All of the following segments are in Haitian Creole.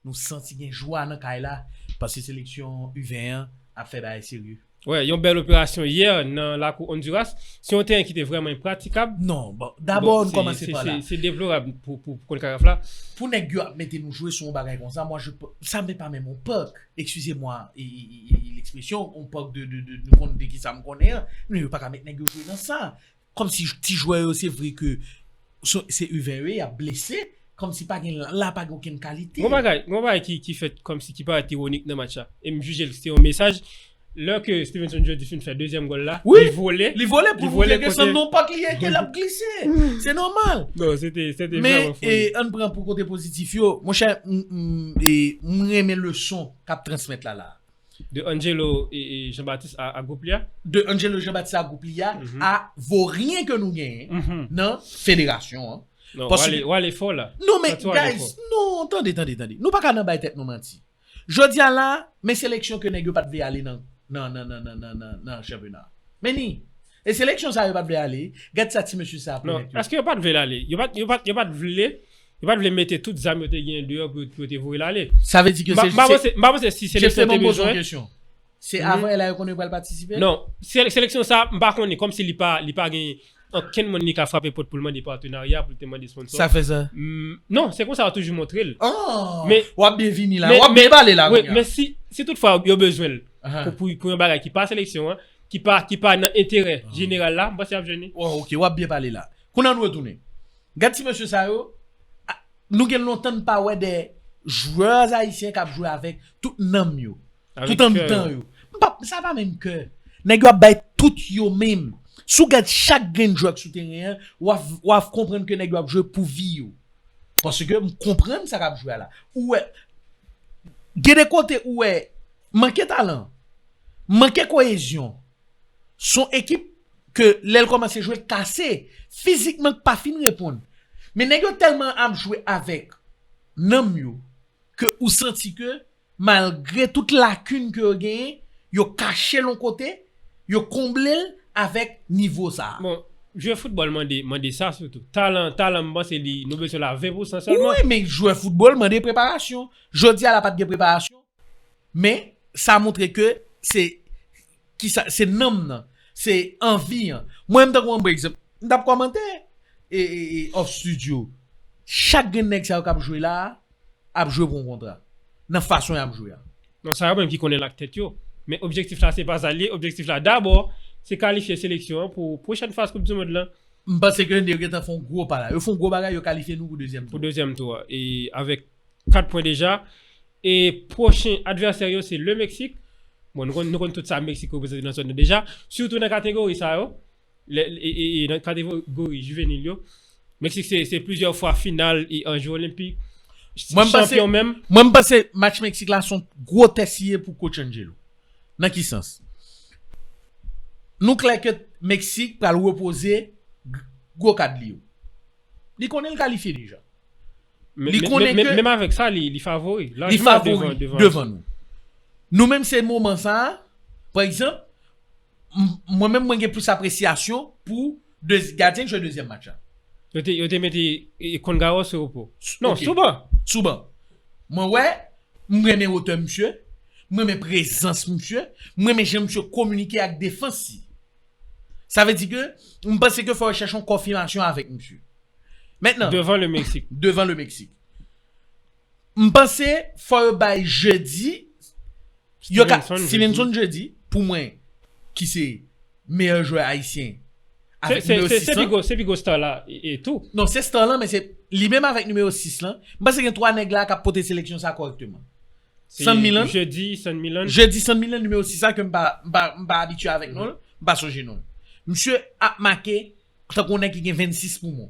Nou santi gen jwa nan kay la paske seleksyon U20 an ap fè bagay serye. Wè, yon bèl operasyon yè nan lakou Onduras. Se yon teren ki te vrèman enpratikab. Non, bon, dabò nou kòmanse pa la. Se deplorab pou Konkakaf la. Pou nèg yo ap mete nou jwe sou yon bagay konsa, sa menm pa menm yon pèk. Excusez-moi l'expression, on parle de, de, de, nou konn de kisa m konnen an, men yo pa ka met nèg yo jwe nan sa. Kòm si ti jwè yo se vre ke se U 20 yo ye, y ap blese, kòm si pa gen, la pa gen okenn kalite. Gon bagay, gon bagay ki, ki fèt kòm si ki parèt ironik nan match la, e m jije l se te yon mesaj Lè ke Stevenson Jody fin fè dezyèm gòl la, Wi! li vole. Li vole pou l moutre ke se nan yon pak li ye, ke l ap glise. Se nòmal. Non, se te, se te Men, vrèman e, foli. ann pran pou kote pozitif yo. Monchè, m, m, e, m renmen leson k ap transmèt la la a. De Angelo e, e, Jean-Baptiste a, a gwoup li a. De Angelo Jean-Baptiste a gwoup li a, a voryen ke nou genyen nan federasyon an. Non, w ale, w ale fò la. Non men, guys, non, tande, tande, tande. Nou pa ka nan bay tèt nou manti. Jodia la, men seleksyon ke nèg yo pat vle ale nan nan chanpyona a. Men ni, e seleksyon sa yo pat vle ale, gad sa ti mesye sa ap remèt yo. Non, eske yo pat vle l ale? Yo pat, yo pat, yo pat vle, yo pat vle mete tout zam yo te genyen deyò pou yo te voye l ale. Sa vle di ke se, se, M pa panse, m pa panse si seleksyon te bezwen, Se avan la yo konnen yo pral patisipe? Non. Seleksyon sa, m pa konnen. Kòmsi li pa li pa gen okenn moun li ka frape pòt pou l mande patenarya, pou l te mande sponsò. Sa fè sa? Non. Se konsa yo toujou montre l. An! W ap byen vini la. W ap byen pale la kounya. Men si si toutfwa yo bezwen l pou pou yon bagay ki pa seleksyon an, ki pa ki pa nan enterè jeneral la, m panse y ap jwenn li. Wa oke. W ap byen pale la. Kounye a nou retounen. Gad ti mesye sa yo. Nou gen lontan n pa wè de jwè ayisyen k ap jwe avèk tout nanm yo. Tout an mitan yo. Sa pa menm kè. Nèg yo ap bay tout yo menm. Si w gad chak grenn jwè ki sou teren an, w a konprann ke nèg yo ap jwe pou vi yo. Paske m konprann sa k ap jwe a la. Ou wè, gen de kote ou wè manke talan, manke koyezyon. Se yon ekip ke lè l kòmanse jwe l kase. Fizikman k pa fin reponn. Men nèg yo tèlman ap jwe avèk nanm yo ke ou santi ke Malgre tout lakin ke yo genyen, yo kache l yon kote, yo konble l avèk nivo sa a. Bon, jwe foutbòl mande, mande sa sitou. Talan, talan m panse li, nou bezwen l a 20 pousan sèlman. Wi, men jwe foutbòl mande preparasyon. Jodi a la pa t gen preparasyon, men sa montre ke se, ki sa, se nanm nan, se anvi an. Mwen menm tankou an ba egzanp, m t ap kòmante e, e, e off studio, chak grenn nèg sa yo k ap jwe la a, ap jwe pou yon kontra nan fason yap jwe a. Bon sa yo menm ki konnen l ak tèt yo. Men objektif la se pa sa l ye, objektif la dabò se kalifye seleksyon an pou pwochèn faz koup di mond lan. M panse ke yo gentan fè yon gwo pa la. Yo fè yon gwo bagay, yo kalifye nou pou dezyèm tou. Pou dezyèm tou a. E avèk 4 pwen deja. E pwochen advèsè yo se Le Meksik. Bon nou konn tout sa Meksik reprezante nan zòn nan deja. Sitou nan kategori sa yo. nan kategori jivenil yo, Meksik se plizyè fwa final e an Jou Olenpik, chanpyon menm. Mwen panse match Meksik la son gwo tès li ye pou coach Angelo. Nan ki sans? Nou klè ke Meksik pral repoze gwo kad li yo. Li konnen li kalifye deja. Menm avèk sa li favori. Li favori devan nou. Nou menm se moman sa, pa egzanp, Mwen menm mwen gen plis apresyasyon pou gadyen ki jwe dezyèm match la. Yo te mete Kongarò sou repo. Non, sou ban. Sou ban. Mwen wè, m renmen wotè misye, m renmen prezans misye, m renmen jan misye kominike ak defans li. Sa vle di ke, m panse ke fò yo chèche yon konfimasyon avèk misye. Devan le Meksik. Devan le Meksik. M panse fò yo bay jeudi yo ka Stevenson jeudi pou mwen ki se meyè jwè ayisyen avèk nimewo 6 lan se pi gwo star la tou non se star lan men se li menm avèk nimewo 6 lan m panse gen 3 nèg la kap pote seleksyon sa kòrèkteman San Milan jeudi San Milan nimewo 6 la ke m pa abitye avèk non l m pa sonje non l misye ap make tankou yon nèg ki gen 26 poumon.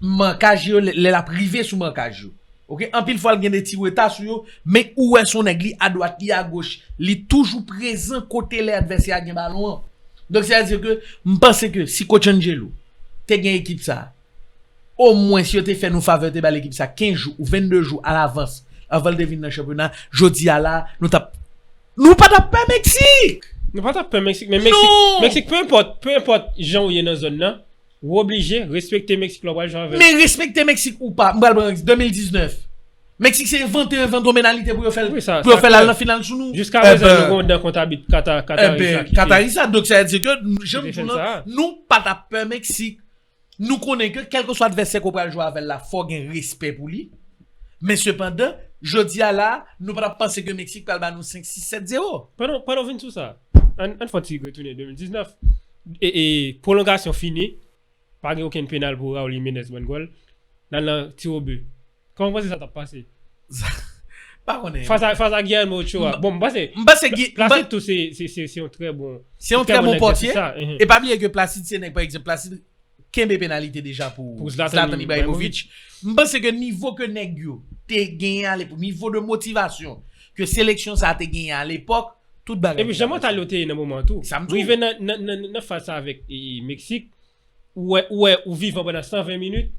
Mankaj yo lè lap rive sou mankaj yo ok anpil fwa li gen de ti reta sou yo men ou wè son nèg li adwat li agoch li toujou prezan kote lè advèsè a gen balon an donk se a di ke m panse ke si coach Angelo te gen ekip sa o mwens yo te fè nou favè te bal ekip sa 15 jou ou 22 jou a lavans avan l te vin nan chanpyona jodi a la nou tap nou pa tap pè Meksik! Nou pa tap pè Meksik men Meksik non! Meksik peu enpòt peu enpòt jan ou ye nan zòn nan. Ou oblije respekte Mexique lè w pral jwe avè l. Men respekte Mexique ou pa, m pral pran Mexique 2019. Mexique se envante envanto menalite pou yo fè l, pou yo fè l al nan final sou nou. Jiska prezan yo gen yon dan kont abit Kataris la ki te. Enben, Kataris la, donk sa vle di ke jan m di w lan, nou pa ta pè Mexique. Nou konnen ke kèlke swa advèsè ke w pral jwe avè l la, fò w gen respè pou li. Men sepandan, jodi a la, nou pa ta panse ke Mexique pral ba nou 5, 6, 7, 0. Pandan w vin sou sa, ann fè yon ti retounen 2019. Pwolongasyon fini, pa gen okenn penal pou Raul Jimenez bann gòl. N al nan tiwobi. Kòman w panse sa t ap pase? Pa konnen. Fas a Guillermo Ochoa. Bon, m panse. M panse Gui. Placide tou se yon trè bon. Se yon trè bon pòtye. E pa bliye ke Placide se nèg pa egzanp Placide. kenbe penalite deja pou Zlatan Ibrahimovic. M panse ke nivo ke nèg yo te genyen a lepòk, nivo de motivasyon ke seleksyon sa te genyen a lepòk, tout bagay te deja pase. Epi jan mantal yo te ye nan moman an tou. Sa m di w. Rive nan faz sa avèk Meksik, ou wè ou wè ou vivan pandan 120 minit.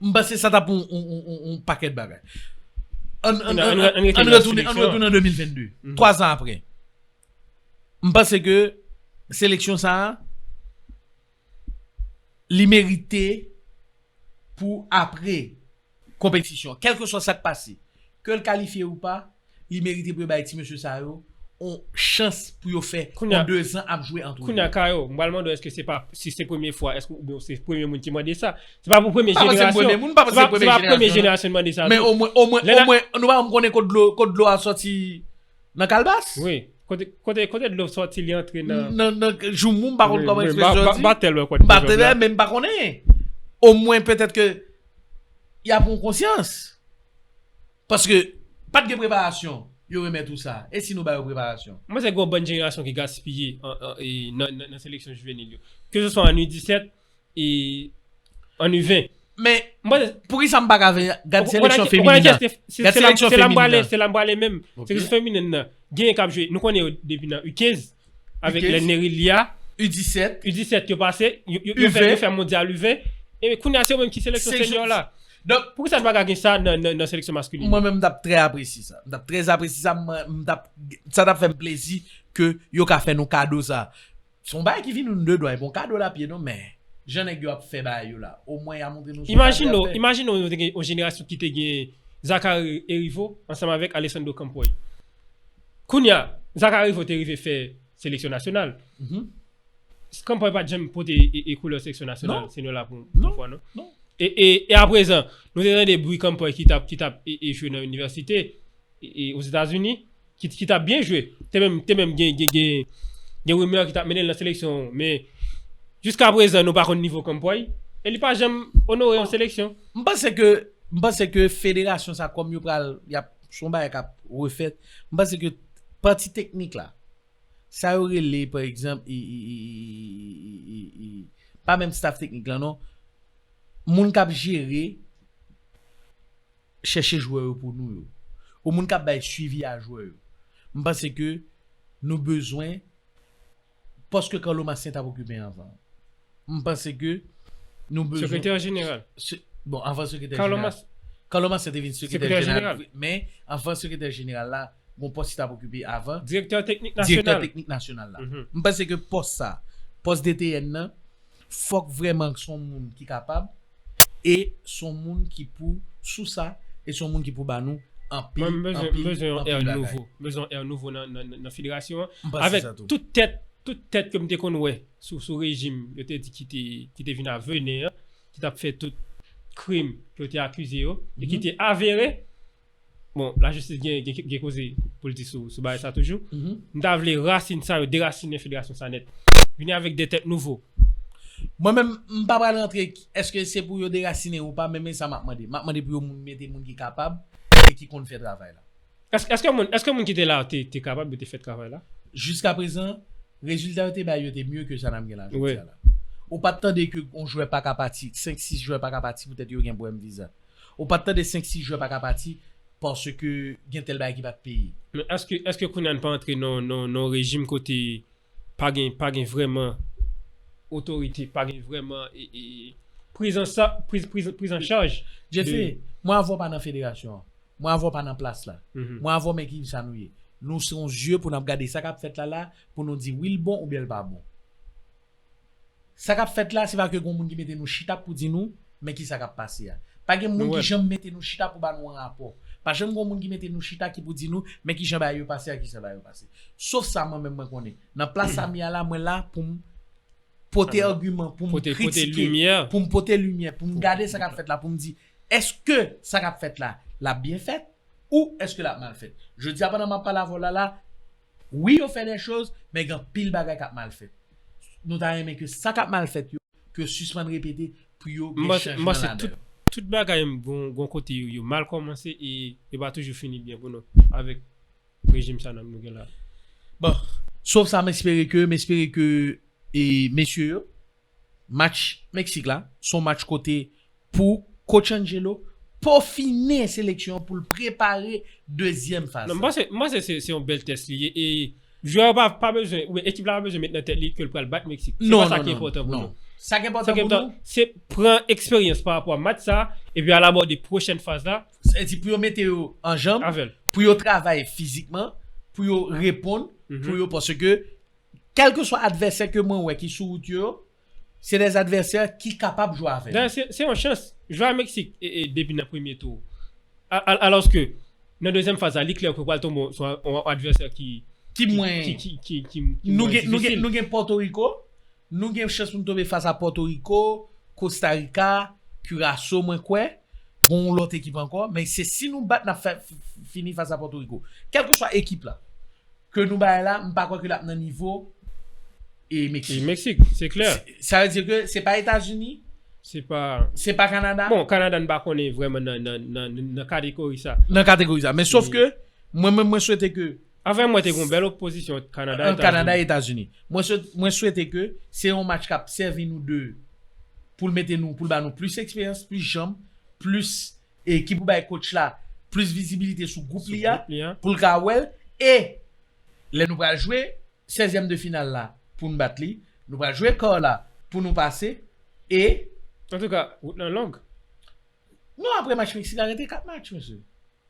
M panse sa ta pou yon pakèt bagay. An retounen an 2022, 3 zan apre. M panse ke seleksyon sa a. li merite pou apre konpetisyon an, kèlkeswa sa k pase, ke l kalifye ou pa, li merite pou yo bay ti mesye sa yo yon chans pou yo fè yon dezan ap jwe antre yo. Kounye a, Kayo, m pral mande w èske se pa, si se premye fwa, èske oubyen ou se premye moun ki mande sa? Se pa pou premye jenerasyon, se pa premye jenerasyon ki mande sa tou. Men omwen, omwen, omwen, nou pa konn kote dlo a soti. Nan kalbas? Wi. Kote, kote dlo sòti li antre nan. Nan, nan joumou m pa konn kòman ekspresyon an di. Batèl wè kòt. Batèl wè men m pa konnen. Omwen petèt ke y a pran konsyans. Paske pat gen preparasyon yo remèt ou sa. E si nou ba yo preparasyon? M panse gen yon bann jenerasyon ki gaspiye nan seleksyon jivenil yo. Ke se swa an U17. e an nu 20. Men, poukisa m pa ka vin gad seleksyon feminin nan? Gad seleksyon feminin nan. Se la m prale menm. Seleksyon feminin nan. Gen yon k ap jwe. Nou konnen yo depi nan U15. Avèk lè Nerilia. U17. U17 yo pase. Yo fè mondyal U20. E kounye a se yo menm ki seleksyon senyor la. Poukisa nou pa ka gen sa nan seleksyon maskulin? Mwen menm m t ap trè apresye sa. M t ap trè apresye sa. Sa t ap fè m plezi ke yo ka fè nou kado sa. Son bagay ki vini nou de dwa epi yon kado lapye non men Jan nèg yo ap fè bagay yo la o mwen ya montre nou son kado yap fè. Imajine w nou te gen yon jenerasyon kite gen Zachary Heriveau ansanm avèk Alessandro Campoy kounya Zachary Heriveau te rive fè seleksyon nasyonal Campoy pat janm pote koulè seleksyon nasyonal se nou la pou yon fwa non e aprezan nou te tande bri Campoy ki tap jwe nan inivèsite Ozetazini. ki tap byen jwe, te menm te menm gen gen gen rumeur ki tap mennen l nan seleksyon men jiska prezan nou pa konn nivo Campoy e li pa janm onore yon seleksyon. M panse ke m panse ke federasyon sa kòm yo pral yap se yon bagay kap refèt m panse ke pati teknik la sa yo rele pa egzanp pa menm staff teknik la non moun kap jere Chèche jwè yo pou nou yo. Ou moun kap bay swivi a jwè yo. M panse ke nou bezwen pòs ke Carlo Massien tap okipe anvan an. M panse ke nou bezwen. Sekretè jeneral. Bon anvan sekretè jeneral. Carlo Massien te vin sekretè jeneral wi. Men anvan sekretè jeneral la gon pòs li tap okipe avan. Direktè teknik nasyonal. Direktè teknik nasyonal la. M panse ke pòs sa, pòs DTN nan. Fok vreman k son moun ki kapab e son moun ki pou sou sa e son moun ki pou ba nou anpil anpil bagay. Mwen bezwen yon air nouvo. Mwen bezwen yon air nouvo nan federasyon an. M panse sa tou. Avek tout tet tout tet ke m te konn we sou sou rejim yo te di ki te vin a vene an ki tap fe tout krim ke yo te akize yo e ki te avere Bon, lajistis gen gen koze pou l di sou bagay sa toujou. M ta vle rasin sa yo derasinen federasyon sa nèt. Vini avèk de tèt nouvo. Mwen menm, m pa pral rantre èske se pou yo derasinen ou pa men men sa m ap mande. M ap mande pou yo mete moun ki kapab e ki konn fè travay la. Èske moun èske moun ki te la yo te te kapab yo te fè travay la? Jiskaprezan, rezilta yo te bay yo te mye ke sa n ap gen la jodi a la. Ou pa t tande ke yon jwè pa ka pati, senk sis jwè pa ka pati poutèt yo gen pwoblèm viza. Ou pat tande 5 si jwè paka pati paske gen tèl bagay ki pat peye. Men eske eske kounya n pa antre nan nan yon rejim kote pa gen pa gen vrèman otorite pa gen vrèman prizansa priz priz prizancharj Jese mwen avè w pa nan federasyon an mwen avè w pa nan plas la mwen avè w men ki sa nou ye nou se yon zye pou n ap gade sa k ap fèt la la pou nou di wi l bon oubyen l pa bon. Sa kap fèt la se pa ke gon moun ki mete nou chita pou di nou men ki sa kap pase a. Pa gen moun ki janm mete nou chita pou ba nou an rapò. Pa janm gon moun ki mete nou chita ki pou di nou men ki jan bagay yo pase ak ki sa bagay yo pase. Sof sa mwen menm mwen konnen. Nan plas sa m ye a la mwen la pou m pote agiman, pou m kritike, pou m pote limyè, pou m gade sa kap fèt la pou m di eske sa kap fèt la lap byen fèt ou eske lap mal fèt. Jodi a pandan map pale avè w la la Wi yo fè des choses men gen anpil bagay kap mal fèt nou ta renmen ke sa kap mal fèt yo ke yo sispann repete pou yo gen chanjman ladan yo. M panse tout bagay gon kote yo mal kòmanse e yo pa toujou fini byen pou nou avèk rejim sa nou gen la. Bon, sof sa m espere ke m espere ke mesye yo. Match Meksik la son match kote pou Coach Angelo pofine seleksyon an pou l prepare dezyèm faz la. M panse se yon bèl tès li ye e jwè yo pa bezwen oubyen ekip la pa bezwen met nan tèt li ke l pral bat Meksik. Se pa sa ki enpòtan pou nou. Sa ki enpòtan pou nou. Se pran eksperyans pa rapò a match sa a epi al abòde pwochèn faz la. Sa vle di pou yo mete yo anjanm, pou yo travay fizikman, pou yo reponn, pou yo paske. Kèlkeswa advèsè ke mwen wè ki sou wout yo yo, se des advèsè ki kapab jwe avè nou. Dayè se yon chans, jwe a Meksik depi nan premye tou. Alòske nan dezyèm faz la li klè ke pral tonbe sou yon advèsè ki mwen difisil. Nou gen Pòtoriko, nou gen chans pou nou tonbe fas a Pòtoriko, Kostarika, Kiraso mwen kwè, gen yon lòt ekip ankò, men se si nou bat nap fini fas a Pòtoriko. Kèlkeswa ekip la. Ke nou bay la, m pa kwè ke lap nan nivo e Meksik. E Meksik, se klè. Sa vle di ke se pa Etazini. Se pa. Se pa Kanada. Bon, Kanada n pa konnen vreman nan kategori sa. Nan kategori sa. Men sof ke, mwen menm mwen swete ke. Avè mwen te gen yon bèl opozisyon ant Kanada e Etazini. Ant Kanada e Etazini. Mwen swete ke se yon match kap sèvi nou de, pou l mete nou, pou l ba nou plis eksperyans, plis janm, plis e ki pou bay coach la plis vizibilite sou gwoup li a pou l ka wè l e lè nou pral jwe sèzyèm de final la pou n bat li nou pral jwe kar la pou nou pase e Antouka wout lan long. Non apre match Meksik la rete 4 match mesye.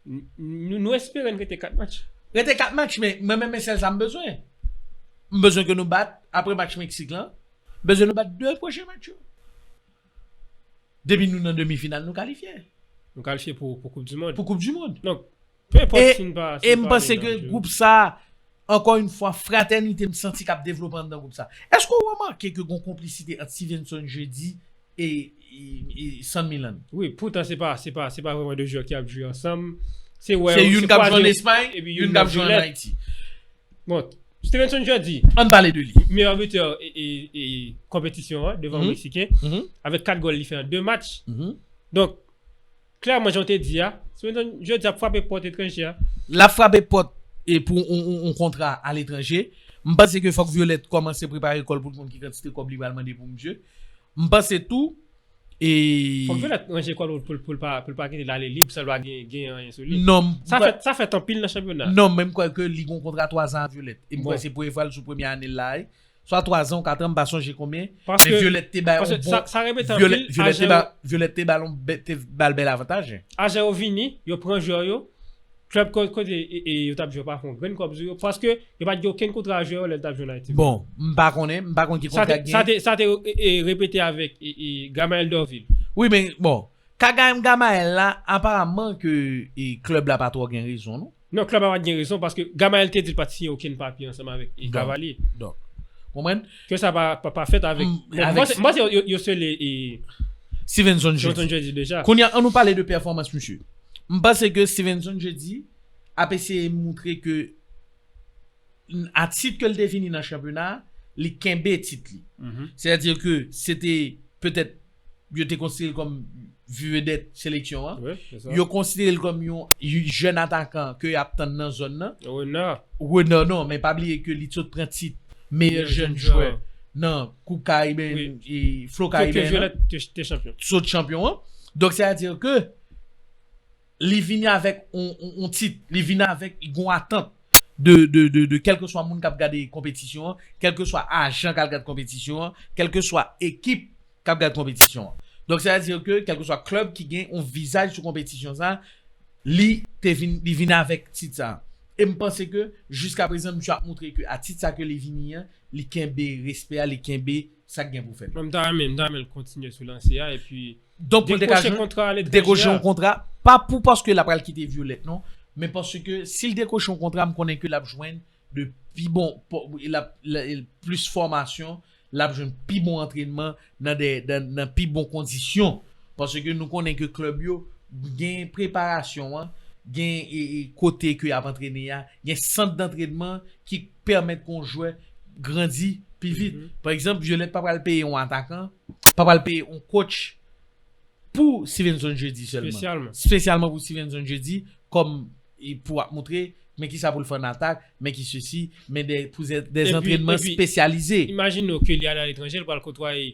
Nou espere n rete 4 match. Rete 4 match men mwen menm men sèl sa m bezwen. M bezwen ke nou bat apre match Meksik lan m bezwen nou bat 2 pwochen match yo. Depi nou nan demi final nou kalifye. Nou kalifye pou koup du mond. Pou koup du mond. Donk, pe enpòt si n pa ale nan. E m panse ke group sa, ankò yn fwa fratènite m santi kap devlope anndan group sa. Eske ou remake ke gon konplisite ant Stevenson Jeudy e San Milan? Wi, poutan se pa se pa se pa vreman 2 jwè ki ap jwe ansanm. Se wè. Se youn kap jwe an Espay, youn kap jwe an Ayiti. Bon. Stevenson Jordi, meyè butè konpetisyon an devan Meksiken, avèk 4 gòl li fè an 2 match. Donk, klèman jan w te di a, Stevenson Jordi ap frape pòt etranje a. L ap frape pòt pou yon kontra aletranje. M panse ke fòk Violette kòmanse prepare kò l pou l konn ki kantite kòb li pral mande pou misye. M panse tou e. Fòk Violette ranje kò l pou l pa kite l ale lib san l pa gen anyen sou li. Non. Sa fèt anpil nan chanpyona. Non men m kwè ke li gon kontra 3 zan a Violette. E m kwè se premye fwa l sou premye ane l la a. Swa 3 zan ou 4 an m pa sonje konbyen. Paske. Men Violette te bay yon bon. Sa repete anpil. Violette te ba l yon bèl avantaj. Ajan yo vini, yo pran jwè yo. Club kote yo tap jwe yo pa fon grenn kòb sou yo paske yo pat gen okenn kontra jwè yo lè yo tap jwe nan Haiti. Bon, m pa konnen, m pa konn ki kontra ki gen. Sa te sa te repete avèk Gamael Dorvil. Wi men bon, kagayem Gamael la aparaman ke club la pa twò gen rezon non. Non club la pat gen rezon paske Gamael te di l pat siyen okenn papye ansanm avèk Cavalier. Donk, konprann? Ke sa pa fèt avèk M panse yo sele Stevenson Jeudi deja. Kounye an nou pale de pèfòmans misye. M panse ke Stevenson Jeudi ap eseye moutre ke a tit ke l te vini nan chanpyona a, li kenbe tit li. Sètadi ke se te petèt yo te konsidere l kòm vedèt seleksyon an. Yo konsidere l kòm yon jèn atakan ke y ap tann nan zòn nan. Renard. Renard non, men pa bliye ke li sot pran tit meyè jèn jwè nan koup kariben, Flo Kariben an. Ke Violette te chanpyon. Sot chanpyon an. Donk sètadi ke. li vini avèk yon tit, li vini avèk yon atant de kèlkeswa moun k ap gade konpetisyon an, kèlkeswa ajan k al gad konpetisyon an, kèlkeswa ekip k ap gad konpetisyon an. Donk sa vle di ke kèlkeswa klèb ki gen yon vizaj sou konpetisyon sa, li vini avèk tit sa. E m panse ke jiskaprezan misye ap montre ke a tit sa ke li vini an, li kenbe respè a, li kenbe. sa k gen pou fèt. Mwen m ta renmen, m ta renmen l kontinye sou lanse a epi Donk pou l te ka dekwoche jwenn, kontra aletranje a. dekwoche yon kontra, pa pou paske l ap pral kite Violette non, men paske si l dekwoche yon kontra m konnen ke l ap jwenn de pi bon, l ap plis fòmasyon, l ap jwenn pi bon antrenman nan de, nan pi bon kondisyon. Paske nou konnen ke klèb yo gen preparasyon an, gen kote ke y ap antrene a, gen sant dantrenman ki. pèmèt ke yon jwè grandi pi vit. Pa egzanp, Violette pa pral peye yon atakan, pa pral peye yon kotch pou Stevenson Jeudi sèlman. Spesyalman pou Stevenson Jeudi kòm pou ap moutre men kisa pou l fè an atak, men ki sesi, men pou dè antrenman spesyalize. Imajine w ke li ale aletranje, li pral kotwaye.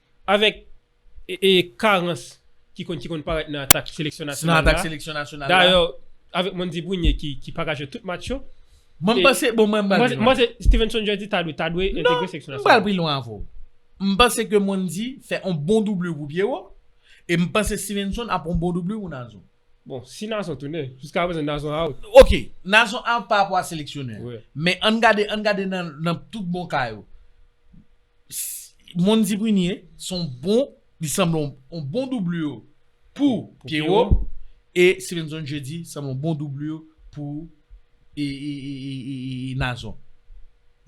Avèk karans ki konn parèt nan atak seleksyon nasyonal la, dayè avèk Mondy Brunie ki pa ka jwe tout match yo, mwen panse Stevenson Jerzy ta dwe entegre seleksyon nasyonal la. Non, mwen pral pi lwen avè w. Mwen panse ke Mondy fè yon bon doublure pou Pierrot, e mwen panse Stevenson ap yon bon doublure pou Nazon. Bon si Nazon tounen, jiska prezan Nazon out. Ok, Nazon out pa rapò a seleksyonè an. Men ann gade, ann gade nan tout bon ka yo. Mondy Prunier se yon bon, li sanble yon bon doublure pou Pierrot e Stevenson Jeudi sanble yon bon doublure pou. Nazon.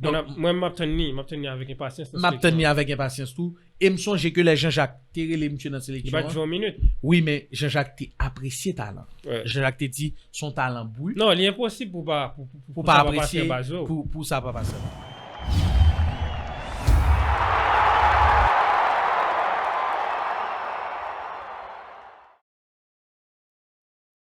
Mwen map tann li, map tann li avèk enpasyans nan seleksyon an. Map tann li avèk enpasyans tou. E m sonje ke lè Janjak te rele misye nan seleksyon an. Li pa t jwe yon minit. Wi men Janjak te apresye talan. Janjak te di son talan brut. Non, li enposib pou pa apresye pou sa pa pase.